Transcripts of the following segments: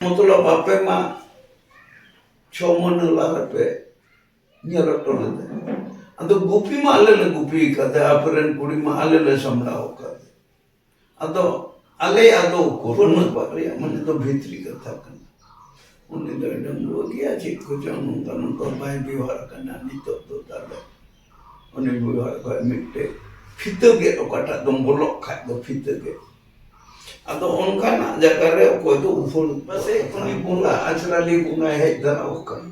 ᱢᱚᱛᱞᱚᱵ ᱟᱯᱮ ᱢᱟ ᱪᱷᱚ ᱢᱟᱹᱦᱱᱟᱹ ᱞᱟᱦᱟ ᱯᱮ ᱧᱮᱞ ᱦᱚᱴᱚ ᱞᱮᱫᱟ ᱟᱫᱚ ᱜᱩᱯᱤ ᱢᱟ ᱟᱞᱮ ᱞᱮ ᱜᱩᱯᱤ ᱠᱟᱫᱮ ᱟᱯᱮ ᱨᱮᱱ ᱠᱩᱲᱤ ᱢᱟ ᱟᱞᱮ ᱞᱮ ᱥᱟᱢᱲᱟᱣ ᱠᱟᱫᱮ ᱟᱫᱚ ᱟᱞᱮᱭᱟᱜ ᱫᱚ ᱩᱠᱩᱨ ᱩᱱᱟᱹᱜ ᱵᱟᱜ ᱨᱮᱭᱟᱜ ᱢᱟᱱᱮ ᱫᱚ ᱵᱷᱤᱛᱨᱤ ᱠᱟᱛᱷᱟ ᱠᱟᱱᱟ ᱩᱱᱤ ᱫᱚᱭ ᱰᱟᱺᱜᱩᱣᱟᱹ ᱜᱮᱭᱟ ᱪᱮᱫ ᱠᱚᱪᱚᱝ ᱱᱚᱝᱠᱟ ᱱᱚᱝᱠᱟ ᱵᱟᱭ ᱵᱮᱣᱦᱟᱨ ᱠᱟᱱᱟ ᱱᱤᱛᱚᱜ ᱫᱚ ᱛᱟᱦᱚᱞᱮ ᱩᱱᱤ ᱵᱩᱲᱦᱟᱹ ᱠᱷᱚᱡ ᱢᱤᱫᱴᱮᱡ ᱯᱷᱤᱛᱟᱹ ᱜᱮᱫ ᱚᱠᱟᱴᱟᱜ ᱫᱚᱢ ᱵᱚᱞᱚᱜ ᱠᱷᱟᱡ ᱫᱚ ᱯᱷᱤᱛᱟᱹ ᱜᱮᱫ ᱟᱫᱚ ᱚᱱᱠᱟᱱᱟᱜ ᱡᱟᱭᱜᱟ ᱨᱮ ᱚᱠᱚᱭ ᱫᱚ ᱩᱯᱷᱟᱹᱲ ᱯᱟᱥᱮᱡ ᱩᱱᱤ ᱵᱚᱸᱜᱟ ᱟᱪᱨᱟᱞᱤ ᱵᱚᱸᱜᱟᱭ ᱦᱮᱡ ᱫᱟᱨᱟᱣ ᱠᱟᱱᱟ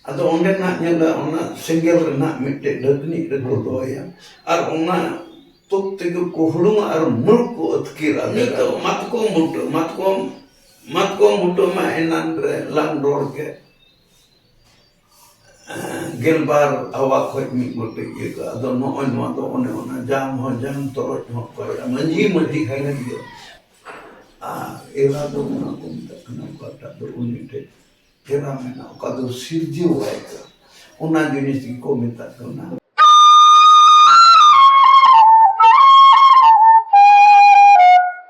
ᱟᱫᱚ ᱚᱸᱰᱮᱱᱟᱜ ᱧᱮᱞᱟ ᱚᱱᱟ ᱥᱮᱸᱜᱮᱞ ᱨᱮᱱᱟᱜ ᱢᱤᱫᱴᱮᱡ ᱰᱟᱹᱜᱽᱱᱤᱡ ᱨᱮᱠᱚ ᱫᱚᱦᱚᱭᱟ ᱟᱨ ᱚᱱᱟ ᱛᱩᱠ ᱛᱮᱜᱮ ᱠᱚ ᱦᱩᱲᱩᱝᱟ ᱟᱨ ᱢᱩᱞᱠ ᱠᱚ ᱟᱹᱛᱠᱤᱨᱟ ᱱᱤᱛᱚᱜ ᱢᱟᱛᱠᱚᱢ ᱵᱩᱴᱟᱹ ᱢᱟᱛᱠᱚᱢ ᱢᱟᱛᱠᱚᱢ ᱵᱩᱴᱟᱹ ᱢᱟ ᱮᱱᱟᱱ ᱨᱮ ᱞᱟᱝ ᱨᱚᱲ ᱠᱮᱫ ᱜᱮᱞᱵᱟᱨ ᱟᱵᱷᱟ ᱠᱷᱚᱡ ᱢᱤᱫ ᱜᱚᱴᱮᱡ ᱤᱭᱟᱹ ᱠᱟᱜᱼᱟ ᱟᱫᱚ ᱱᱚᱜᱼᱚᱭ ᱱᱚᱣᱟ ᱫᱚ ᱚᱱᱮ ᱚᱱᱟ ᱡᱟᱝ ᱦᱚᱸ ᱡᱟᱝ ᱛᱚᱨᱚᱡ ᱦᱚᱸ ᱛᱚᱨᱚᱡ ᱢᱟᱹᱡᱷᱤ ᱢᱟᱹᱡᱷᱤ ᱠᱷᱟᱱ ᱜᱮ ᱤᱭᱟᱹ ᱟᱨ ᱮᱨᱟ ᱫᱚ ᱚᱱᱟ ᱠᱚ ᱢᱮᱛᱟᱜ ᱠᱟᱱᱟ ᱚᱠᱟᱴᱟᱜ ᱫᱚ ᱩᱱᱤ ᱴᱷᱮᱡ ᱮᱨᱟ ᱢᱮᱱᱟᱜᱼᱟ ᱚᱠᱟ ᱫᱚ ᱥᱤᱨᱡᱟᱹᱣᱟᱭ ᱠᱟᱱᱟ ᱚᱱᱟ ᱡᱤᱱᱤᱥ ᱜᱮᱠᱚ ᱢᱮᱛᱟᱜ ᱠᱟᱱᱟ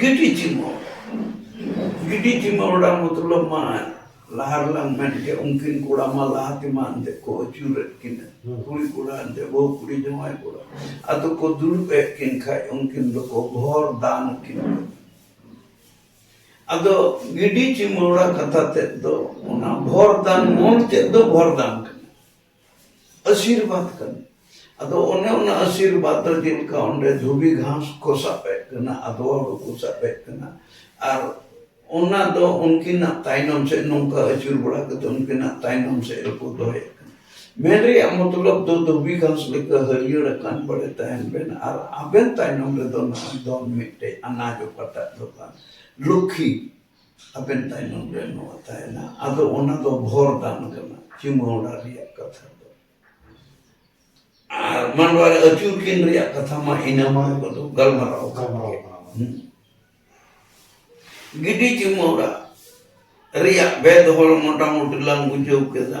ᱜᱤᱰᱤ ᱪᱤᱢᱟᱹᱲ ᱜᱤᱰᱤ ᱪᱤᱢᱟᱹᱲᱟ ᱢᱚᱛᱞᱚᱵ ᱢᱟ ᱞᱟᱦᱟ ᱨᱮᱞᱟᱝ ᱢᱮᱱ ᱠᱮᱫ ᱩᱱᱠᱤᱱ ᱠᱚᱲᱟ ᱢᱟ ᱞᱟᱦᱟ ᱛᱮᱢᱟ ᱮᱱᱛᱮ ᱠᱚ ᱟᱹᱪᱩᱨᱮᱫ ᱠᱤᱱᱟ ᱠᱩᱲᱤ ᱠᱚᱲᱟ ᱮᱱᱛᱮ ᱵᱟᱹᱦᱩ ᱠᱩᱲᱤ ᱡᱟᱶᱟᱭ ᱠᱚᱲᱟ ᱟᱫᱚ ᱠᱚ ᱫᱩᱲᱩᱵ ᱮᱫ ᱠᱤᱱ ᱠᱷᱟᱡ ᱩᱱᱠᱤᱱ ᱫᱚᱠᱚ ᱵᱷᱚᱨ ᱫᱟᱱ ᱠᱤᱱ ᱟᱫᱚ ᱜᱤᱰᱤ ᱪᱤᱢᱟᱹᱲᱟ ᱠᱟᱛᱷᱟ ᱛᱮᱫ ᱫᱚ ᱚᱱᱟ ᱵᱷᱚᱨ ᱫᱟᱱ ᱢᱩᱞ ᱛᱮᱫ ᱫᱚ ᱵᱷᱚᱨ ᱫᱟᱱ ᱠᱟᱱᱟ ᱟᱥᱤᱨᱵᱟᱫ ᱠᱟᱱᱟ ᱟᱫᱚ ᱚᱱᱮ ᱚᱱᱟ ᱟᱥᱤᱨᱵᱟᱫ ᱫᱚ ᱡᱮᱞᱮᱠᱟ ᱚᱸᱰᱮ ᱫᱷᱩᱵᱤ ᱜᱷᱟᱥ ᱠᱚ ᱥᱟᱵᱮᱫ ᱠᱟᱱᱟ ᱟᱫᱚᱣᱟ ᱦᱩᱲᱩ ᱠᱚ ᱥᱟᱵᱮᱫ ᱠᱟᱱᱟ ᱟᱨ ᱚᱱᱟ ᱫᱚ ᱩᱱᱠᱤᱱᱟᱜ ᱛᱟᱭᱱᱚᱢ ᱥᱮᱫ ᱱᱚᱝᱠᱟ ᱟᱹᱪᱩᱨ ᱵᱟᱲᱟ ᱠᱟᱛᱮ ᱩᱱᱠᱤᱱᱟᱜ ᱛᱟᱭᱱᱚᱢ ᱥᱮᱫ ᱨᱮᱠᱚ ᱫᱚᱦᱚᱭᱮᱫ ᱠᱟᱱᱟ ᱢᱮᱱ ᱨᱮᱭᱟᱜ ᱢᱚᱛᱞᱚᱵ ᱫᱚ ᱫᱷᱩᱵᱤ ᱜᱷᱟᱥ ᱞᱮᱠᱟ ᱦᱟᱹᱨᱭᱟᱹᱲ ᱟᱠᱟᱱ ᱵᱟᱲᱮ ᱛᱟᱦᱮᱱ ᱵᱮᱱ ᱟᱨ ᱟᱵᱮᱱ ᱛᱟᱭᱱᱚᱢ ᱨᱮᱫᱚ ᱱᱚᱜᱼᱚᱭ ᱫᱚ ᱢᱤᱫᱴᱮᱡ ᱟᱱᱟᱡ ᱚᱠᱟᱴᱟᱜ ᱫᱚ ᱠᱟᱱ ᱞᱩᱠᱠᱷᱤ ᱟᱵᱮᱱ ᱛᱟᱭᱱᱚᱢ ᱨᱮ ᱱᱚᱣᱟ ᱛᱟᱦᱮᱱᱟ ᱟᱫᱚ ᱚᱱᱟ ᱫᱚ ᱵᱷᱚᱨ ᱫᱟᱱ ᱠᱟᱱᱟ ᱪᱩᱢᱟᱹᱲᱟ ᱨᱮᱭᱟᱜ ᱠᱟᱛᱷᱟ ᱫᱚ ᱟᱨ ᱢᱟᱱᱣᱟ ᱨᱮ ᱟᱹᱪᱩᱨ ᱠᱤᱱ ᱨᱮᱭᱟᱜ ᱠᱟᱛᱷᱟ ᱢᱟ ᱤᱱᱟᱹ ᱢᱟ ᱠᱚᱫᱚ ᱜᱟᱞᱢᱟᱨᱟᱣ ᱜᱟᱞᱢᱟᱨᱟᱣ ᱠᱟᱱᱟ ᱜᱤᱰᱤ ᱪᱩᱢᱟᱹᱲᱟ ᱨᱮᱭᱟᱜ ᱵᱮᱫ ᱦᱚᱲ ᱢᱚᱴᱟᱢᱩᱴᱤ ᱞᱟᱝ ᱵᱩᱡᱷᱟᱹᱣ ᱠᱮᱫᱟ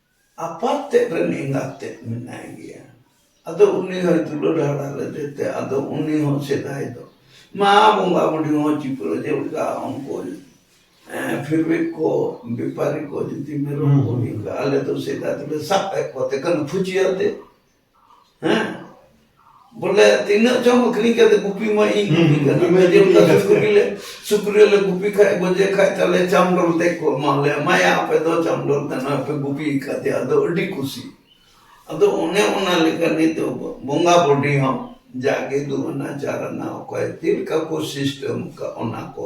ᱟᱯᱟᱛ ᱛᱮᱫ ᱨᱮᱱ ᱮᱸᱜᱟᱛ ᱛᱮᱫ ᱢᱮᱱᱟᱭ ᱜᱮᱭᱟ ᱟᱫᱚ ᱩᱱᱤ ᱦᱚᱸ ᱫᱩᱞᱟᱹᱲ ᱦᱟᱨᱟ ᱞᱮᱫᱮᱛᱮ ᱟᱫᱚ ᱩᱱᱤ ᱦᱚᱸ ᱥᱮᱫᱟᱭ ᱫᱚ ᱢᱟ ᱵᱚᱸᱜᱟ ᱵᱩᱰᱷᱤ ᱦᱚᱸ ᱪᱤᱯᱲᱟᱹ ᱡᱮᱞᱮᱠᱟ ᱩᱱᱠᱩ ᱯᱷᱤᱨᱵᱤ ᱠᱚ ᱵᱮᱯᱟᱨᱤ ᱠᱚ ᱡᱩᱫᱤ ᱢᱮᱨᱚᱢ ᱠᱚ ᱟᱞᱮ ᱫᱚ ᱥᱮᱫᱟᱭ ᱫᱚᱞᱮ ᱥᱟᱵ ᱮᱫ ᱠᱚᱛᱮ ᱠᱟᱱᱟ ᱯᱷᱩᱪᱤᱭᱟᱛᱮ ᱦᱮᱸ ᱵᱚᱞᱮ ᱛᱤᱱᱟᱹᱜ ᱪᱚᱢ ᱟᱹᱠᱷᱨᱤᱧ ᱠᱟᱛᱮ ᱜᱩᱯᱤ ᱢᱟ ᱤᱧ ᱜᱩᱯᱤ ᱠᱟᱱᱟ ᱡᱮᱢ ᱠᱟᱛᱮ ᱥᱩᱠᱨᱤ ᱞᱮ ᱥᱩᱠᱨᱤ ᱞᱮ ᱜᱩᱯᱤ ᱠᱷᱟᱡ ᱜᱚᱡᱮ ᱠᱷᱟᱡ ᱛᱟᱞᱮ ᱪᱟᱢ ᱰᱚᱞ ᱛᱮ ᱠᱚ ᱮᱢᱟ ᱞᱮ ᱮᱢᱟᱭᱟ ᱟᱯᱮ ᱫᱚ ᱪᱟᱢ ᱰᱚᱞ ᱛᱮ ᱱᱚᱜᱼᱚᱭ ᱯᱮ ᱜᱩᱯᱤ ᱠᱟᱫᱮ ᱟᱫᱚ ᱟᱹᱰᱤ ᱠᱩᱥᱤ ᱟᱫᱚ ᱚᱱᱮ ᱚᱱᱟ ᱞᱮᱠᱟ ᱱᱤᱛ ᱵᱚᱸᱜᱟ ᱵᱚᱰᱤ ᱦᱚᱸ ᱡᱟᱜᱮ ᱫᱩ ᱟᱱᱟ ᱪᱟᱨ ᱟᱱᱟ ᱚᱠᱚᱭ ᱪᱮᱫ ᱞᱮᱠᱟ ᱠᱚ ᱥᱤᱥᱴᱮᱢ ᱠᱟᱜ ᱚᱱᱟ ᱠᱚ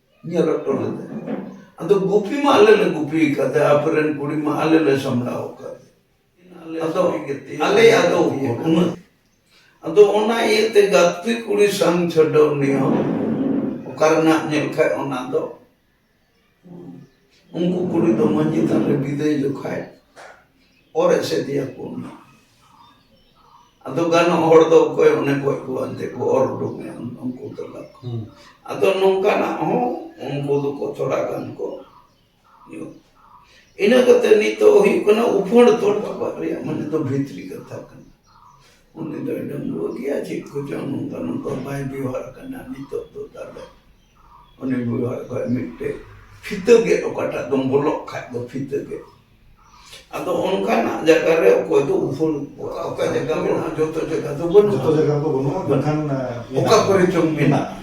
ᱤᱧᱟᱹᱜ ᱨᱚᱠᱛᱚ ᱞᱮᱫᱟᱭ ᱟᱫᱚ ᱜᱩᱯᱤ ᱢᱟ ᱟᱞᱮ ᱞᱮ ᱜᱩᱯᱤ ᱠᱟᱫᱮ ᱟᱯᱮ ᱨᱮᱱ ᱠᱩᱲᱤ ᱢᱟ ᱟᱞᱮ ᱞᱮ ᱥᱟᱢᱲᱟᱣ ᱠᱟᱫᱮ ᱟᱫᱚ ᱟᱞᱮ ᱟᱫᱚ ᱩᱱᱟᱹᱜ ᱟᱫᱚ ᱚᱱᱟ ᱤᱭᱟᱹᱛᱮ ᱜᱟᱛᱮ ᱠᱩᱲᱤ ᱥᱟᱝ ᱪᱷᱟᱰᱟᱣ ᱱᱤᱭᱚ ᱚᱠᱟ ᱨᱮᱱᱟᱜ ᱧᱮᱞ ᱠᱷᱟᱡ ᱚᱱᱟ ᱫᱚ ᱩᱱᱠᱩ ᱠᱩᱲᱤ ᱫᱚ ᱢᱟᱹᱡᱷᱤ ᱛᱷᱟᱱ ᱨᱮ ᱵᱤᱫᱟᱹᱭ ᱡᱚᱠᱷᱟᱡ ᱚᱨ ᱮᱥᱮᱫᱮᱭᱟ ᱠᱚ ᱚᱱᱟ ᱟᱫᱚ ᱜᱟᱱᱚᱜ ᱦᱚᱲ ᱫᱚ ᱚᱠᱚᱭ ᱚᱱᱮ ᱜᱚᱡ ᱠᱚ ᱟᱱᱛᱮ ᱠᱚ ᱚᱨ ᱩᱰᱩᱠᱮᱭᱟ ᱩᱱᱠᱩ ᱛᱟᱞᱟ ᱟᱫᱚ ᱱᱚᱝᱠᱟᱱᱟᱜ ᱦᱚᱸ ᱩᱱᱠᱩ ᱫᱚᱠᱚ ᱛᱷᱚᱲᱟ ᱜᱟᱱ ᱠᱚ ᱧᱩ ᱤᱱᱟᱹ ᱠᱟᱛᱮ ᱱᱤᱛᱚᱜ ᱦᱩᱭᱩᱜ ᱠᱟᱱᱟ ᱩᱯᱷᱟᱹᱲ ᱛᱚᱞ ᱵᱟᱵᱟ ᱨᱮᱭᱟᱜ ᱢᱟᱱᱮ ᱫᱚ ᱵᱷᱤᱛᱨᱤ ᱠᱟᱛᱷᱟ ᱠᱟᱱᱟ ᱩᱱᱤ ᱫᱚᱭ ᱰᱟᱺᱜᱩᱣᱟᱹ ᱜᱮᱭᱟ ᱪᱮᱫ ᱠᱚᱪᱚᱝ ᱱᱚᱝᱠᱟ ᱱᱚᱝᱠᱟ ᱵᱟᱭ ᱵᱮᱣᱦᱟᱨ ᱠᱟᱱᱟ ᱱᱤᱛᱚᱜ ᱫᱚ ᱛᱟᱦᱚᱞᱮ ᱩᱱᱤ ᱜᱩᱨᱩᱣᱟᱜ ᱠᱷᱚᱡ ᱢᱤᱫᱴᱮᱡ ᱯᱷᱤᱛᱟᱹ ᱜᱮᱫ ᱚᱠᱟᱴᱟᱜ ᱫᱚᱢ ᱵᱚᱞᱚᱜ ᱠᱷᱟᱡ ᱫᱚ ᱯᱷᱤᱛᱟᱹ ᱜᱮᱫ ᱟᱫᱚ ᱚᱱᱠᱟᱱᱟᱜ ᱡᱟᱭᱜᱟ ᱨᱮ ᱚᱠᱚᱭ ᱫᱚ ᱩᱯᱷᱩᱞ ᱚᱠᱟ ᱚᱠᱟ ᱡᱟᱭᱜᱟ ᱢᱮᱱᱟᱜᱼᱟ ᱡᱚᱛᱚ ᱡᱟᱭᱜᱟ ᱫᱚ ᱵᱟᱹᱱᱩᱜᱼᱟ ᱡᱚᱛᱚ ᱡᱟᱭᱜᱟ ᱫᱚ ᱵᱟᱹᱱᱩᱜᱼᱟ ᱢᱮᱱᱠᱷᱟᱱ ᱚᱠᱟ ᱠᱚᱨᱮ ᱪᱚᱝ ᱢᱮᱱᱟᱜᱼᱟ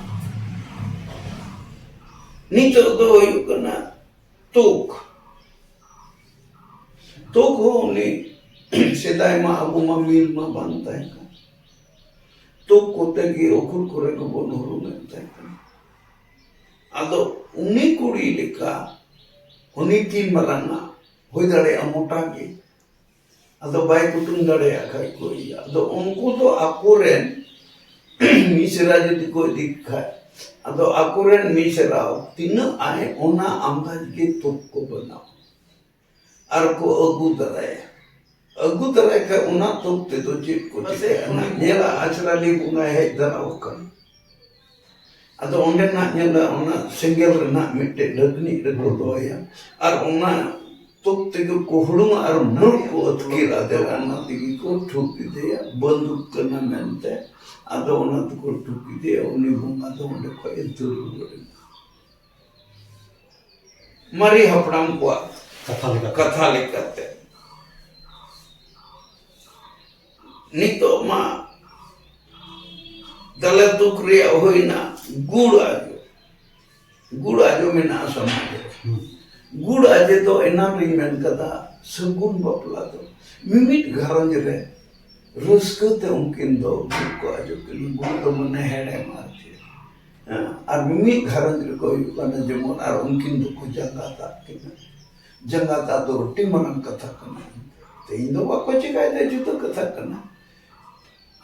ᱱᱤᱛᱚᱜ ᱫᱚ ᱦᱩᱭᱩᱜ ᱠᱟᱱᱟ ᱛᱩᱠ ᱛᱩᱠ ᱦᱚᱸ ᱩᱱᱤ ᱥᱮᱫᱟᱭ ᱢᱟ ᱟᱵᱚ ᱢᱟ ᱢᱤᱞ ᱢᱟ ᱵᱟᱝ ᱛᱟᱦᱮᱸ ᱠᱟᱱᱟ ᱛᱩᱠ ᱠᱚᱛᱮ ᱜᱮ ᱩᱠᱩᱞ ᱠᱚᱨᱮ ᱜᱮᱵᱚᱱ ᱦᱩᱨᱩᱢᱮᱫ ᱛᱟᱦᱮᱸ ᱠᱟᱱᱟ ᱟᱫᱚ ᱩᱱᱤ ᱠᱩᱲᱤ ᱞᱮᱠᱟ ᱩᱱᱤ ᱛᱤᱱ ᱢᱟᱨᱟᱝ ᱟᱜ ᱦᱩᱭ ᱫᱟᱲᱮᱭᱟᱜᱼᱟ ᱢᱚᱴᱟ ᱜᱮ ᱟᱫᱚ ᱵᱟᱭ ᱠᱩᱴᱩᱢ ᱫᱟᱲᱮᱭᱟᱜ ᱠᱷᱟᱡ ᱠᱚ ᱤᱭᱟᱹ ᱟᱫᱚ ᱩᱱᱠᱩ ᱫᱚ ᱟᱠᱚᱨᱮᱱ ᱢᱤᱥᱨᱟ ᱡᱩᱫᱤ ᱠᱚ ᱤᱫᱤ ᱠᱷᱟᱡ ᱟᱫᱚ ᱟᱠᱚᱨᱮᱱ ᱢᱤᱥᱨᱟ ᱛᱤᱱᱟᱹᱜ ᱟᱭ ᱚᱱᱟ ᱟᱢᱫᱟᱡ ᱜᱮ ᱛᱩᱠ ᱠᱚ ᱵᱮᱱᱟᱣᱟ ᱟᱨ ᱠᱚ ᱟᱹᱜᱩ ᱫᱟᱨᱟᱭᱟ ᱟᱹᱜᱩ ᱫᱟᱨᱟᱭ ᱠᱷᱟᱱ ᱚᱱᱟ ᱛᱚᱠ ᱛᱮᱫᱚ ᱪᱮᱫ ᱠᱚ ᱪᱤᱠᱟᱹᱭᱟ ᱧᱮᱞᱟ ᱟᱪᱨᱟᱞᱤ ᱵᱚᱸᱜᱟ ᱦᱮᱡ ᱫᱟᱨᱟᱣ ᱟᱠᱟᱱᱟ ᱟᱫᱚ ᱚᱸᱰᱮᱱᱟᱜ ᱧᱮᱞᱟ ᱚᱱᱟ ᱥᱮᱸᱜᱮᱞ ᱨᱮᱱᱟᱜ ᱢᱤᱫᱴᱮᱡ ᱰᱷᱟᱹᱠᱱᱤ ᱨᱮᱠᱚ ᱫᱚᱦᱚᱭᱟ ᱟᱨ ᱚᱱᱟ ᱛᱚᱠ ᱛᱮᱜᱮ ᱠᱚ ᱦᱩᱲᱩᱝᱟ ᱟᱨ ᱢᱩᱲ ᱠᱚ ᱟᱹᱛᱠᱤᱨ ᱟᱫᱮᱨᱟ ᱚᱱᱟ ᱛᱮᱜᱮ ᱠᱚ ᱴᱷᱩᱠ ᱠᱮᱫᱮᱭᱟ ᱵᱟᱹᱱᱫᱩᱠ ᱠᱟᱱᱟ ᱢᱮᱱᱛᱮ ᱟᱫᱚ ᱚᱱᱟ ᱛᱮᱠᱚ ᱴᱷᱩᱠ ᱠᱮᱫᱮᱭᱟ ᱩᱱᱤ ᱵᱚᱸᱜᱟ ᱫᱚ ᱚᱸᱰᱮ ᱠᱷᱚᱡ ᱮ ᱫᱟᱹᱲ ᱨᱩᱣᱟᱹᱲ ᱮᱱᱟ ᱢᱟᱨᱮ ᱦᱟᱯᱲᱟᱢ ᱠᱚᱣᱟᱜ ᱠᱟᱛᱷᱟ ᱞᱮᱠᱟᱛᱮ ᱠᱟᱛᱷᱟ ᱞᱮᱠᱟᱛᱮ ᱱᱤᱛᱚᱜ ᱢᱟ ᱫᱟᱞᱮ ᱫᱩᱠ ᱨᱮᱭᱟᱜ ᱦᱩᱭᱱᱟ ᱜᱩᱲ ᱟᱡᱚ ᱜᱩᱲ ᱟᱡᱚ ᱢᱮᱱᱟᱜᱼᱟ ᱥᱚᱢᱟᱡᱽ ᱨᱮ ᱜᱩᱲ ᱟᱡᱮ ᱫᱚ ᱮᱱᱟᱝ ᱨᱤᱧ ᱢᱮᱱ ᱠᱟᱫᱟ ᱥᱟᱹᱜᱩᱱ ᱵᱟᱯᱞᱟ ᱫᱚ ᱢᱤᱢᱤᱫ ᱜᱷᱟᱨᱚᱸᱡᱽ ᱨᱮ ᱨᱟᱹᱥᱠᱟᱹ ᱛᱮ ᱩᱱᱠᱤᱱ ᱫᱚ ᱜᱩᱲ ᱠᱚ ᱟᱡᱚ ᱠᱤᱱ ᱜᱩᱲ ᱫᱚ ᱢᱟᱱᱮ ᱦᱮᱲᱮᱢ ᱟᱨ ᱪᱮᱫ ᱟᱨ ᱢᱤᱢᱤᱫ ᱜᱷᱟᱨᱚᱸᱡᱽ ᱨᱮᱠᱚ ᱦᱩᱭᱩᱜ ᱠᱟᱱᱟ ᱡᱮᱢᱚᱱ ᱟᱨ ᱩᱱᱠᱤᱱ ᱫᱚᱠᱚ ᱡᱟᱸᱜᱟᱛ ᱟᱜ ᱠᱤᱱᱟ ᱡᱟᱸᱜᱟᱛ ᱟᱜ ᱫᱚ ᱟᱹᱰᱤ ᱢᱟᱨᱟᱝ ᱠᱟᱛᱷᱟ ᱠᱟᱱᱟ ᱛᱮᱦᱮᱧ ᱫᱚ ᱵᱟᱠᱚ ᱪᱤᱠᱟᱭᱮᱫᱟ ᱡᱩᱫᱟᱹ ᱠᱟᱛᱷᱟ ᱠᱟᱱᱟ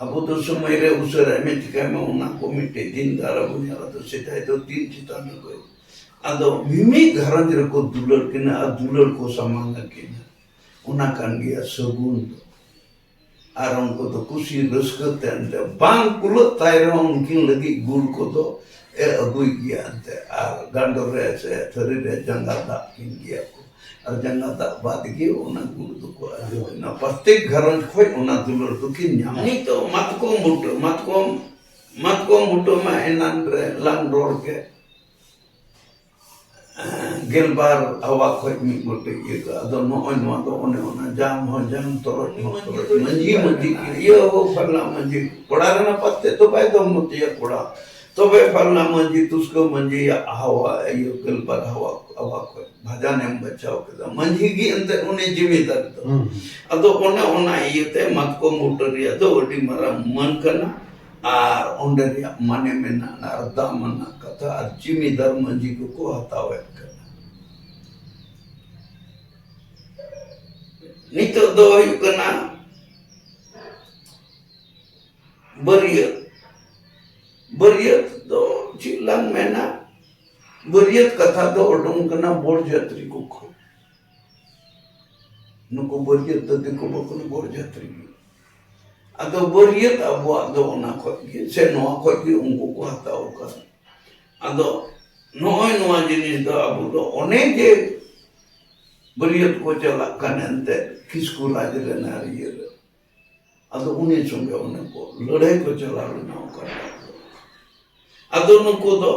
ᱟᱵᱚ ᱫᱚ ᱥᱚᱢᱚᱭ ᱨᱮ ᱩᱥᱟᱹᱨᱟᱭ ᱢᱮ ᱪᱤᱠᱟᱭ ᱢᱮ ᱚᱱᱟ ᱠᱚ ᱢᱤᱫᱴᱮᱡ ᱫᱤᱱ ᱫᱟᱨᱟ ᱵᱚᱱ ᱧᱮᱞᱟ ᱟᱫᱚ ᱥᱮᱫᱟᱭ ᱫᱚ ᱫᱤᱱ ᱪᱮᱛᱟᱱ ᱨᱮᱠᱚ ᱟᱫᱚ ᱢᱤᱢᱤᱫ ᱜᱷᱟᱨᱚᱸᱡᱽ ᱨᱮᱠᱚ ᱫᱩᱞᱟᱹᱲ ᱠᱤᱱᱟ ᱟᱨ ᱫᱩᱞᱟᱹᱲ ᱠᱚ ᱥᱟᱢᱟᱝ ᱟᱹᱠᱤᱱᱟ ᱚᱱᱟ ᱠᱟᱱ ᱜᱮᱭᱟ ᱥᱟᱹᱜᱩᱱ ᱫᱚ ᱟᱨ ᱩᱱᱠᱩ ᱫᱚ ᱠᱩᱥᱤ ᱨᱟᱹᱥᱠᱟᱹ ᱛᱮ ᱮᱱᱛᱮ ᱵᱟᱝ ᱠᱩᱞᱟᱹᱜ ᱛᱟᱭ ᱨᱮᱦᱚᱸ ᱩᱱᱠᱤᱱ ᱞᱟᱹᱜᱤᱫ ᱜᱩᱲ ᱠᱚᱫᱚ ᱮ ᱟᱹᱜᱩᱭ ᱜᱮᱭᱟ ᱮᱱᱛᱮ ᱟᱨ ᱜᱟᱸᱰᱚ ᱨᱮ ᱥᱮ ᱛᱷᱟᱹᱨᱤ ᱨᱮ ᱡᱟᱸᱜᱟ ᱫᱟᱜ ᱠᱤᱱ ᱜᱮᱭᱟ ᱠᱚ ᱟᱨ ᱡᱟᱸᱜᱟ ᱫᱟᱜ ᱵᱟᱫ ᱜᱮ ᱚᱱᱟ ᱜᱩᱲ ᱫᱚᱠᱚ ᱟᱹᱜᱩᱭᱟ ᱯᱨᱚᱛᱮᱠ ᱜᱷᱟᱨᱚᱸᱡᱽ ᱠᱷᱚᱱ ᱚᱱᱟ ᱫᱩᱞᱟᱹᱲ ᱫᱚᱠᱤᱱ ᱧᱟᱢᱟ ᱱᱤᱛᱚᱜ ᱢᱟᱛᱠᱚᱢ ᱵᱩᱴᱟᱹ ᱢᱟᱛᱠᱚᱢ ᱢᱟᱛᱠᱚᱢ ᱵᱩᱴᱟᱹ ᱢᱟ ᱮᱱᱟᱱ ᱨᱮᱞᱟᱝ ᱨᱚᱲ ᱠᱮᱫ ᱜᱮᱞᱵᱟᱨ ᱦᱟᱣᱟ ᱠᱷᱚᱡ ᱢᱤᱫ ᱜᱚᱴᱮᱡ ᱤᱭᱟᱹ ᱠᱟᱜᱼᱟ ᱟᱫᱚ ᱱᱚᱜᱼᱚᱭ ᱱᱚᱣᱟ ᱫᱚ ᱚᱱᱮ ᱚᱱᱟ ᱡᱟᱝ ᱦᱚᱸ ᱡᱟᱝ ᱛᱚᱨᱚᱡ ᱦᱚᱸ ᱛᱚᱨᱚᱡ ᱢᱟᱹᱡᱷᱤ ᱢᱟᱹᱡᱷᱤ ᱤᱭᱟᱹ ᱦᱚᱸ ᱯᱷᱟᱞᱱᱟ ᱢᱟᱹᱡᱷᱤ ᱠᱚᱲᱟ ᱨᱮᱱᱟᱜ ᱯᱟᱛᱮ ᱫᱚ ᱵᱟᱭ ᱫᱚᱢ ᱢᱚᱛᱤᱭᱟ ᱠᱚᱲᱟ ᱛᱚᱵᱮ ᱯᱷᱟᱞᱱᱟ ᱢᱟᱹᱡᱷᱤ ᱛᱩᱥᱠᱟᱹ ᱢᱟᱹᱡᱷᱤᱭᱟᱜ ᱦᱟᱣᱟ ᱤᱭᱟᱹ ᱜᱮᱞᱵᱟᱨ ᱦᱟᱣᱟ ᱦᱟᱣᱟ ᱠᱷᱚᱡ ᱵᱷᱟᱡᱟᱱᱮᱢ ᱵᱟᱪᱷᱟᱣ ᱠᱮᱫᱟ ᱢᱟᱹᱡᱷᱤ ᱜᱮ ᱮᱱᱛᱮ ᱩᱱᱤ ᱡᱤᱢᱤᱫᱟᱨ ᱫᱚ ᱟᱫᱚ ᱚᱱᱮ ᱚᱱᱟ ᱤᱭᱟᱹᱛᱮ ᱢᱟᱛᱠᱚᱢ ᱵᱩᱴᱟᱹ ᱨᱮᱭᱟᱜ ᱫᱚ ᱟᱹᱰᱤ ᱢᱟᱨᱟᱝ ᱢᱟᱹᱱ ᱠᱟᱱᱟ ᱟᱨ ᱚᱸᱰᱮ ᱨᱮᱭᱟᱜ ᱢᱟᱱᱮ ᱢᱮᱱᱟᱜᱼᱟ ᱟᱨ ᱫᱟᱢ ᱟᱱᱟᱜ ᱠᱟᱛᱷᱟ ᱟᱨ ᱡᱤᱢᱤᱫᱟᱨ ᱢᱟᱹᱡᱷᱤ ᱠᱚᱠᱚ ᱦᱟᱛᱟᱣᱮᱫ ᱠᱟᱱᱟ ᱱᱤᱛᱚᱜ ᱫᱚ ᱦᱩᱭᱩᱜ ᱠᱟᱱᱟ ᱵᱟᱹᱨᱭᱟᱹᱛ ᱵᱟᱹᱨᱭᱟᱹᱛ ᱫᱚ ᱪᱮᱫ ᱞᱟᱝ ᱢᱮᱱᱟ ᱵᱟᱹᱨᱭᱟᱹᱛ ᱠᱟᱛᱷᱟ ᱫᱚ ᱩᱰᱩᱝ ᱠᱟᱱᱟ ᱵᱚᱨ ᱡᱟᱛᱨᱤ ᱠᱚ ᱠᱷᱚᱱ ᱱᱩᱠᱩ ᱵᱟᱹᱨᱭᱟᱹᱛ ᱫᱚ ᱫᱤᱠᱩ ᱵᱟᱠᱚ ᱵᱚᱨ ᱡᱟᱛᱨᱤ ᱜᱮ ᱟᱫᱚ ᱵᱟᱹᱨᱭᱟᱹᱛ ᱟᱵᱚᱣᱟᱜ ᱫᱚ ᱚᱱᱟ ᱠᱷᱚᱡ ᱜᱮ ᱥᱮ ᱱᱚᱣᱟ ᱠᱷᱚᱡ ᱜᱮ ᱩᱱᱠᱩ ᱠᱚ ᱦᱟᱛᱟᱣ ᱟᱠᱟᱫ ᱟᱫᱚ ᱱᱚᱜᱼᱚᱭ ᱱᱚᱣᱟ ᱡᱤᱱᱤᱥ ᱫᱚ ᱟᱵᱚ ᱫᱚ ᱚᱱᱮ ᱡᱮ ᱵᱟᱹᱨᱭᱟᱹᱛ ᱠᱚ ᱪᱟᱞᱟᱜ ᱠᱟᱱ ᱮᱱᱛᱮᱫ ᱠᱤᱥᱠᱩ ᱨᱟᱡᱽ ᱨᱮᱱᱟᱜ ᱤᱭᱟᱹ ᱨᱮ ᱟᱫᱚ ᱩᱱᱤ ᱥᱚᱸᱜᱮ ᱚᱱᱮ ᱠᱚ ᱞᱟᱹᱲᱦᱟᱹᱭ ᱠᱚ ᱪᱟᱞᱟᱣ ᱞᱮᱱᱟ ᱚᱠᱟᱴᱟᱜ ᱫᱚ ᱟᱫᱚ ᱱᱩᱠᱩ ᱫᱚ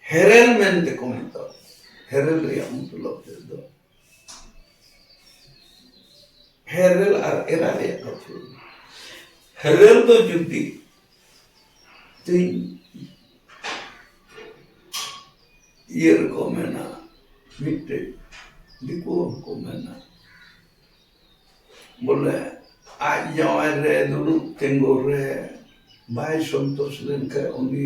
ᱦᱮᱨᱮᱞ ᱢᱮᱱᱛᱮ ᱠᱚ ᱢᱮᱛᱟᱣ ᱠᱚᱣᱟ ᱦᱮᱨᱮᱞ ᱨᱮᱭᱟᱜ ᱢᱚᱛᱞᱚᱵ ᱛᱮᱫᱚ ᱦᱮᱨᱮᱞ ᱟᱨ ᱮᱨᱟ ᱨᱮᱭᱟᱜ ᱠᱟᱛᱷᱟ ᱦᱮᱨᱮᱞ ᱫᱚ ᱡᱩᱫᱤ ᱛᱤᱧ ᱤᱭᱟᱹ ᱨᱮᱠᱚ ᱢᱮᱱᱟ ᱢᱤᱫᱴᱮᱡ ᱫᱤᱠᱩ ᱦᱚᱸᱠᱚ ᱢᱮᱱᱟ ᱵᱚᱞᱮ ᱟᱡ ᱡᱟᱶᱟᱭ ᱨᱮ ᱫᱩᱲᱩᱵ ᱛᱤᱸᱜᱩ ᱨᱮ ᱵᱟᱭ ᱥᱚᱱᱛᱳᱥ ᱞᱮᱱᱠᱷᱟᱱ ᱩᱱᱤ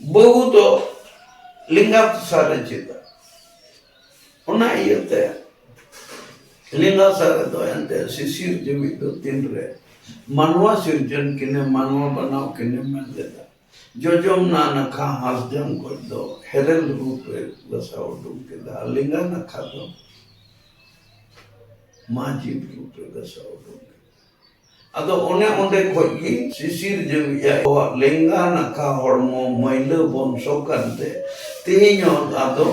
ᱵᱟᱹᱵᱩ ᱫᱚ ᱞᱮᱸᱜᱟ ᱫᱚᱥᱟᱨ ᱨᱮ ᱪᱮᱫᱟ ᱚᱱᱟ ᱤᱭᱟᱹᱛᱮ ᱞᱮᱸᱜᱟ ᱥᱟᱨ ᱨᱮᱫᱚ ᱮᱱᱛᱮ ᱥᱤᱥᱤᱨ ᱡᱩᱢᱤ ᱫᱚ ᱛᱤᱱ ᱨᱮ ᱢᱟᱱᱣᱟ ᱥᱤᱨᱡᱚᱱ ᱠᱤᱱᱮ ᱢᱟᱱᱣᱟ ᱵᱟᱱᱟᱣ ᱠᱤᱱᱮ ᱢᱮᱱ ᱞᱮᱫᱟ ᱡᱚᱡᱚᱢ ᱱᱟ ᱱᱟᱠᱷᱟ ᱦᱟᱥᱡᱚᱢ ᱠᱚᱡ ᱫᱚ ᱦᱮᱨᱮᱞ ᱨᱩᱯ ᱨᱮ ᱵᱟᱥᱟ ᱩᱰᱩᱠ ᱠᱮᱫᱟ ᱞᱮᱸᱜᱟ ᱱᱟᱠᱷᱟ ᱫᱚ ᱢᱟ ᱡᱤᱵ ᱨᱩᱯ ᱨᱮ ᱵᱟᱥᱟ ᱩᱰᱩᱠ ᱟᱫᱚ ᱚᱱᱮ ᱚᱸᱰᱮ ᱠᱷᱚᱡ ᱜᱮ ᱥᱤᱥᱤᱨ ᱡᱟᱹᱣᱤᱡ ᱟᱵᱚᱣᱟᱜ ᱞᱮᱸᱜᱟ ᱱᱟᱠᱷᱟ ᱦᱚᱲᱢᱚ ᱢᱟᱹᱭᱞᱟᱹ ᱵᱚᱝᱥᱚ ᱠᱟᱱᱛᱮ ᱛᱮᱦᱮᱧ ᱦᱚᱸ ᱟᱫᱚ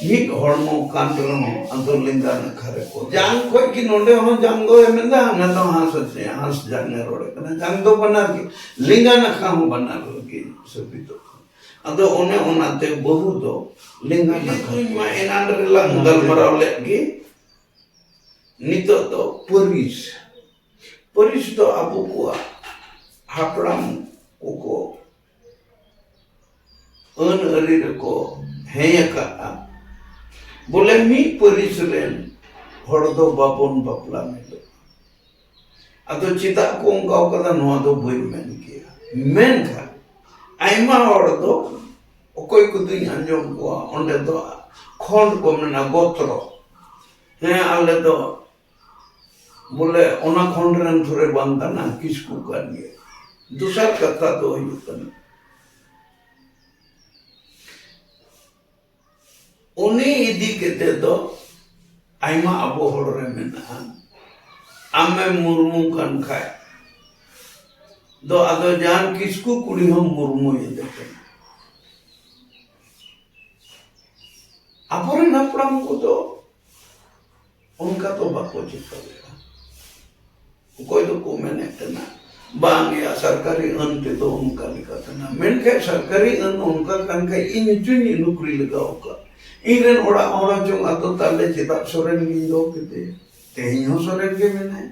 ᱢᱤᱫ ᱦᱚᱲᱢᱚ ᱠᱟᱱ ᱨᱮᱦᱚᱸ ᱟᱫᱚ ᱞᱮᱸᱜᱟ ᱱᱟᱠᱷᱟ ᱨᱮᱠᱚ ᱡᱟᱝ ᱠᱷᱚᱡ ᱜᱮ ᱱᱚᱸᱰᱮ ᱦᱚᱸ ᱡᱟᱝ ᱫᱚ ᱮᱢᱮᱫᱟ ᱦᱟᱱᱟ ᱫᱚ ᱦᱟᱸᱥ ᱟᱪᱮ ᱦᱟᱸᱥ ᱡᱟᱝ ᱮ ᱨᱚᱲᱮ ᱠᱟᱱᱟ ᱡᱟᱝ ᱫᱚ ᱵᱟᱱᱟᱨ ᱜᱮ ᱞᱮᱸᱜᱟ ᱱᱟᱠᱷᱟ ᱦᱚᱸ ᱵᱟᱱᱟᱨ ᱜᱮ ᱥᱟᱹᱵᱤᱛᱚᱜ ᱠᱟᱱᱟ ᱟᱫᱚ ᱚᱱᱮ ᱚᱱᱟᱛᱮ ᱵᱟᱹᱦᱩ ᱫᱚ ᱞᱮᱸᱜᱟ ᱱᱟᱠᱷᱟ ᱢᱟ ᱮᱱᱟᱱ ᱨᱮᱞᱟᱝ ᱜᱟᱞᱢᱟᱨᱟᱣ ᱞᱮᱫ ᱜᱮ ᱱᱤᱛᱚᱜ ᱫᱚ ᱯᱟᱹᱨᱤᱥ ᱯᱟᱹᱨᱤᱥ ᱫᱚ ᱟᱵᱚ ᱠᱚᱣᱟᱜ ᱦᱟᱯᱲᱟᱢ ᱠᱚᱠᱚ ᱟᱹᱱ ᱟᱹᱨᱤ ᱨᱮᱠᱚ ᱦᱮᱸ ᱟᱠᱟᱫᱼᱟ ᱵᱚᱞᱮ ᱢᱤᱫ ᱯᱟᱹᱨᱤᱥ ᱨᱮᱱ ᱦᱚᱲ ᱫᱚ ᱵᱟᱵᱚᱱ ᱵᱟᱯᱞᱟ ᱢᱤᱫᱚᱜᱼᱟ ᱟᱫᱚ ᱪᱮᱫᱟᱜ ᱠᱚ ᱚᱱᱠᱟ ᱟᱠᱟᱫᱟ ᱱᱚᱣᱟ ᱫᱚ ᱵᱟᱹᱧ ᱢᱮᱱ ᱠᱮᱭᱟ ᱢᱮᱱᱠᱷᱟᱱ ᱟᱭᱢᱟ ᱦᱚᱲ ᱫᱚ ᱚᱠᱚᱭ ᱠᱚᱫᱚᱧ ᱟᱸᱡᱚᱢ ᱠᱚᱣᱟ ᱚᱸᱰᱮ ᱫᱚ ᱠᱷᱚᱸᱰ ᱠᱚ ᱢᱮᱱᱟ ᱜᱚᱛᱨᱚ ᱦᱮᱸ ᱟᱞᱮ ᱫᱚ ᱵᱚᱞᱮ ᱚᱱᱟ ᱠᱷᱚᱸᱰ ᱨᱮᱱ ᱫᱷᱚᱨᱮ ᱵᱟᱝ ᱠᱟᱱᱟ ᱠᱤᱥᱠᱩ ᱠᱟᱱ ᱜᱮᱭᱟ ᱫᱚᱥᱟᱨ ᱠᱟᱛᱷᱟ ᱫᱚ ᱦᱩᱭᱩᱜ ᱠᱟᱱᱟ ᱩᱱᱤ ᱤᱫᱤ ᱠᱟᱛᱮ ᱫᱚ ᱟᱭᱢᱟ ᱟᱵᱚ ᱦᱚᱲ ᱨᱮ ᱢᱮᱱᱟᱜᱼᱟ ᱟᱢᱮ ᱢᱩᱨᱢᱩ ᱠᱟᱱ ᱠᱷᱟᱡ ᱫᱚ ᱟᱫᱚ ᱡᱟᱦᱟᱱ ᱠᱤᱥᱠᱩ ᱠᱩᱲᱤ ᱦᱚᱸ ᱢᱩᱨᱢᱩ ᱤᱫᱤ ᱠᱟᱱᱟ ᱟᱵᱚᱨᱮᱱ ᱦᱟᱯᱲᱟᱢ ᱠᱚᱫᱚ ᱚᱱᱠᱟ ᱫᱚ ᱵᱟᱠᱚ ᱪᱤᱠᱟᱹᱭᱟ ᱚᱠᱚᱭ ᱫᱚᱠᱚ ᱢᱮᱱᱮᱫ ᱛᱟᱦᱮᱱᱟ ᱵᱟᱝᱭᱟ ᱥᱚᱨᱠᱟᱨᱤ ᱟᱹᱱ ᱛᱮᱫᱚ ᱚᱱᱠᱟ ᱞᱮᱠᱟ ᱛᱟᱦᱮᱱᱟ ᱢᱮᱱᱠᱷᱟᱱ ᱥᱚᱨᱠᱟᱨᱤ ᱟᱹᱱ ᱚᱱᱠᱟ ᱠᱟᱱ ᱠᱷᱟᱡ ᱤᱧ ᱦᱚᱪᱚᱧ ᱱᱩᱠᱨᱤ ᱞᱟᱜᱟᱣ ᱠᱟᱜ ᱤᱧ ᱨᱮᱱ ᱚᱲᱟᱜ ᱦᱚᱲ ᱦᱚᱪᱚᱝ ᱟᱫᱚ ᱛᱟᱦᱞᱮ ᱪᱮᱫᱟᱜ ᱥᱚᱨᱮᱱ ᱜᱤᱧ ᱫᱚᱦᱚ ᱠᱮᱫᱮᱭᱟ ᱛᱮᱦᱮᱧ ᱦᱚᱸ ᱥᱚᱨᱮᱱ ᱜᱮ ᱢᱮᱱᱟᱭᱟ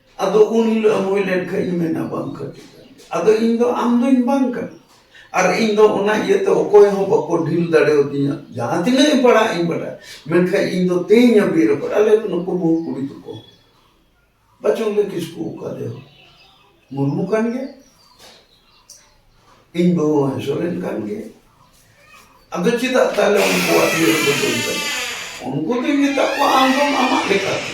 ᱟᱫᱚ ᱩᱱ ᱦᱤᱞᱳᱜ ᱮᱢ ᱦᱩᱭ ᱞᱮᱱᱠᱷᱟᱱ ᱤᱧ ᱢᱮᱱᱟ ᱵᱟᱝ ᱠᱟᱹᱴᱤᱡ ᱟᱫᱚ ᱤᱧ ᱫᱚ ᱟᱢ ᱫᱚᱧ ᱵᱟᱝ ᱠᱟᱱᱟ ᱟᱨ ᱤᱧ ᱫᱚ ᱚᱱᱟ ᱤᱭᱟᱹᱛᱮ ᱚᱠᱚᱭ ᱦᱚᱸ ᱵᱟᱠᱚ ᱰᱷᱤᱞ ᱫᱟᱲᱮᱭᱟᱫᱤᱧᱟ ᱡᱟᱦᱟᱸ ᱛᱤᱱᱟᱹᱜ ᱤᱧ ᱯᱟᱲᱦᱟᱜ ᱤᱧ ᱵᱟᱰᱟᱭ ᱢᱮᱱᱠᱷᱟᱱ ᱤᱧ ᱫᱚ ᱛᱮᱧ ᱦᱟᱹᱵᱤᱡ ᱨᱮ ᱯᱟᱲᱦᱟᱜ ᱟᱞᱮ ᱱᱩᱠᱩ ᱵᱟᱹᱦᱩ ᱠᱩᱲᱤ ᱛᱟᱠᱚ ᱵᱟᱪᱚᱝ ᱞᱮ ᱠᱤᱥᱠᱩ ᱚᱠᱟ ᱫᱮ ᱢᱩᱨᱢᱩ ᱠᱟᱱ ᱜᱮ ᱤᱧ ᱵᱟᱹᱦᱩ ᱦᱚᱸ ᱥᱚᱨᱮᱱ ᱠᱟᱱ ᱜᱮ ᱟᱫᱚ ᱪᱮᱫᱟᱜ ᱛᱟᱦᱞᱮ ᱩᱱᱠᱩᱣᱟᱜ ᱤᱭᱟᱹ ᱨᱮᱫᱚ ᱵᱟᱹᱧ ᱪᱟᱞᱟᱜᱼᱟ ᱩᱱᱠᱩ ᱫᱚᱧ ᱢᱮᱛᱟᱜ ᱠᱚᱣᱟ ᱟᱢ ᱫᱚ ᱟᱢᱟᱜ ᱞᱮᱠᱟᱛᱮ